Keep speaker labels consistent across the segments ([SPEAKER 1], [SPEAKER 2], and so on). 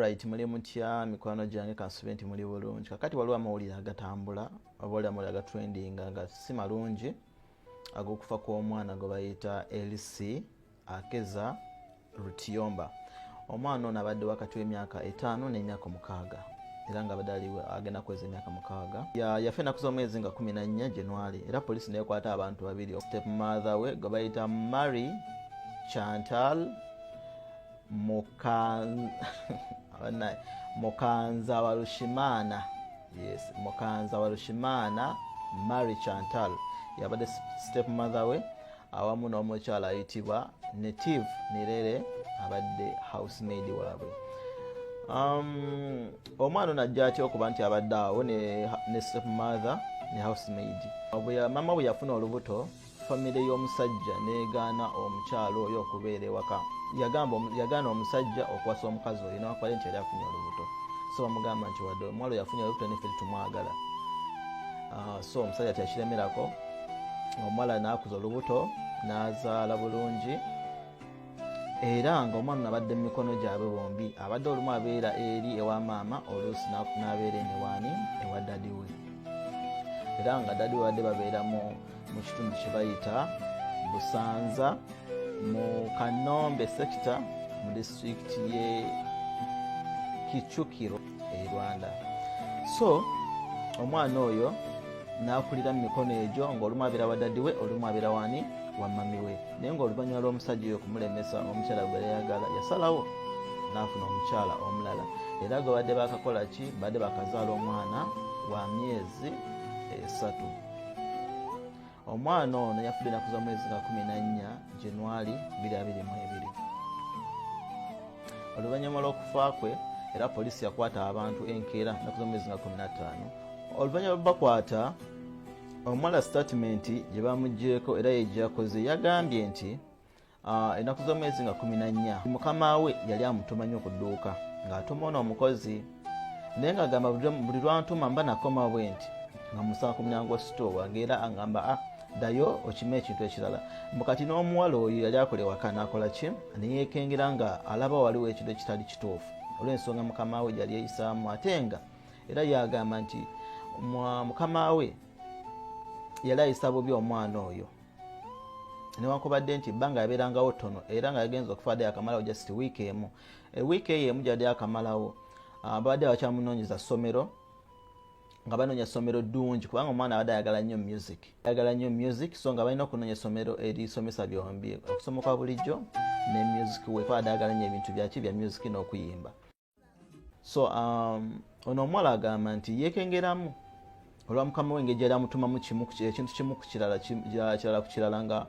[SPEAKER 1] right muli mutya mikwano gyange kansube nti muli bulungi kakati waliwo amawulire agatambula obaoli amawulire agatrendinga nga si malungi agokufa kw'omwana gwe bayita lc akeza rutiyomba omwana ono abadde wakati w'emyaka etaano n'emyaka omukaaga era nga abadde ali agenda kuweza emyaka mukaaga yafa enaku z'omwezi nga kumi nannya januari era poliisi nekwata abantu babiri step mother we gwe bayita mary chantal mukanza warushimana yes mukanza warushimana mary chantal yabadde step mother we awamu n'omukyala ayitibwa native nirere abadde housemaid waabwe um, omwana ono ajja atya okuba nti abadde awo ne, ne step mother ne housemaid mama bwe yafuna olubuto famire y'omusajja negaana omukyalo oyo okubeera ewaka yagaana omusajja okuwasa omukazi oyo nawakwale nti yali afunye olubuto so bamugamba nti wadde omwalo yafunye olubuto nefe tetumwagala ah, so omusajja teyakiremerako omuwala naakuza olubuto n'azaala bulungi era nga omwana abadde mu mikono gyabwe bombi abadde olumu abeera eri ewa maama oluusi n'abeera eniwaani ewa dadi we era nga dadi we badde babeera mu kitundu kye bayita busanza mu kanombe sekita mu disitulikiti ye kicukiro e rwanda so omwana oyo nakulira mumikono egyo ngaolumu abeera wadadiwe olumu abeera wani wamamiwe naye ngaoluvanyuma lwomusajja oyo okumulemesa omukyala gwereyagala yasalawo nafuna omukyala omulala era gwe badde bakakola ki badde bakazaala omwana wa myezi esatu omwana ono yafudde enaku za mwezi ga 14 januari 222 oluvannyuma lw'okufa kwe era poliisi yakwata abantu enkeera enaku za mwezi ga 15 oluvannyuma lwebakwata omwala sitatimenti gye bamugyeko era yegyakoze yagambye nti Ah, ennaku z'omwezi nga kumi na nnya mukama we yali amutuma nnyo ku dduuka ng'atuma ono omukozi naye ng'agamba buli lwantuma mba nakoma bwe nti nga musaba ku mulyango wa sitoo wange era agamba a ah, ddayo okima ekintu ekirala mbu kati n'omuwala oyo yali akola ewaka naakola ki neyeekengera nga alaba waliwo ekintu ekitali kituufu olw'ensonga mukama we gyali eyisaamu ate nga era yagamba nti mukama we yali ayisa bubi omwana oyo newankubadde nti ebbanga yabeerangawo ttono era nga yagenza okufa adde akamalawo just wiiki emu e wiiki eyo emu gyadde akamalawo ah, babadde bakyamunoonyeza ssomero nga banoonya essomero ddungi kubanga omwana abadde ayagala nnyo music ayagala nnyo music so nga balina okunoonya essomero erisomesa byombi okusoma kwa bulijjo ne music wekubadde ayagala nnyo ebintu byaki bya music n'okuyimba so um, ono omuwala agamba nti yekengeramu olwa mukama we engeri gyali amutumamu kimu ekintu kimu kukirala kirala ku kirala nga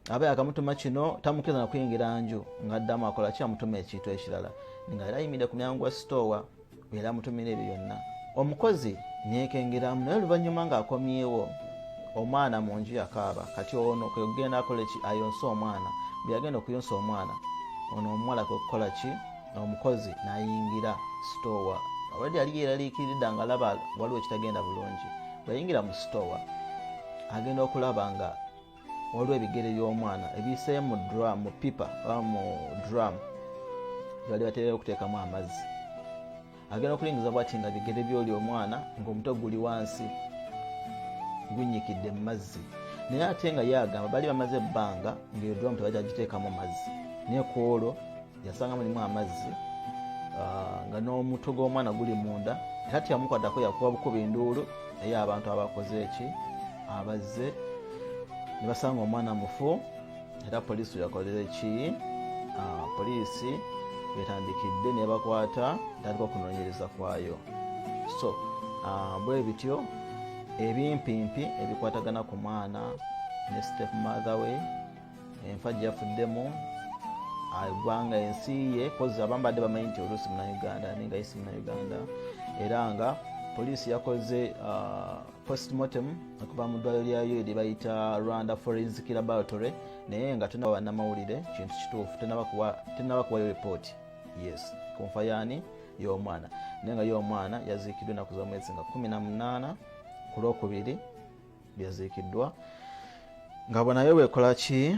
[SPEAKER 1] aba yakamutuma kino tamukiriza nakuyingira nju nga addamu akola ki amutuma ekintu ekirala nga era ayimire ku myango gwa sitoowa era amutumira ebyo byonna omukozi nekengeramu naye oluvannyuma ng'akomyewo omwana mu nju yakaaba kati ono kwekugenda akola ki ayonse omwana bweyagenda okuyonsa omwana ono omuwala kwekukola ki omukozi nayingira sitowa already yali yeraliikiridda nga laba waliwo ekitagenda bulungi bweyayingira mu sitowa agenda okulaba nga waliwo ebigere by'omwana ebiyisee mu drum mu pipa oba mu drum gyebali baterera okuteekamu amazzi agenda okulingiza bwati nga bigere byoli omwana ngaomuto guli wansi gunyikidde mu mazzi naye ate nga ye agamba bali bamaze ebbanga ngaeyo dulamu tebajagiteekamu mazzi naye ku olwo yasanga mulimu amazzi ah, nga n'omutwe gw'omwana guli munda era teyamukwadako yakuba bukuba enduulu naye abantu abakoze eki abazze ne basanga omwana mufu era poliisi yakolera ki ah, poliisi wetandikidde nebakwata tandika okunoonyereza kwayo so ah, bwe bityo ebimpimpi ebikwatagana ku mwana ne step mother we enfa gyafuddemu agwanga ah, ensi ye kozi abambadde bamanyi nti oluusi munauganda ninga isi munauganda era nga poliisi yakoze postmortem okuva mu ddwaliro lya yo lye bayita rwanda forensic laboratory naye nga tunaba bannamawulire kintu kituufu tenaba kuwayo ripooti yes kunfa yaani y'omwana naye nga y'omwana yaziikiddwa enaku za mwezi nga 18 ku lwokubiri byaziikiddwa nga bonayo bwekola ki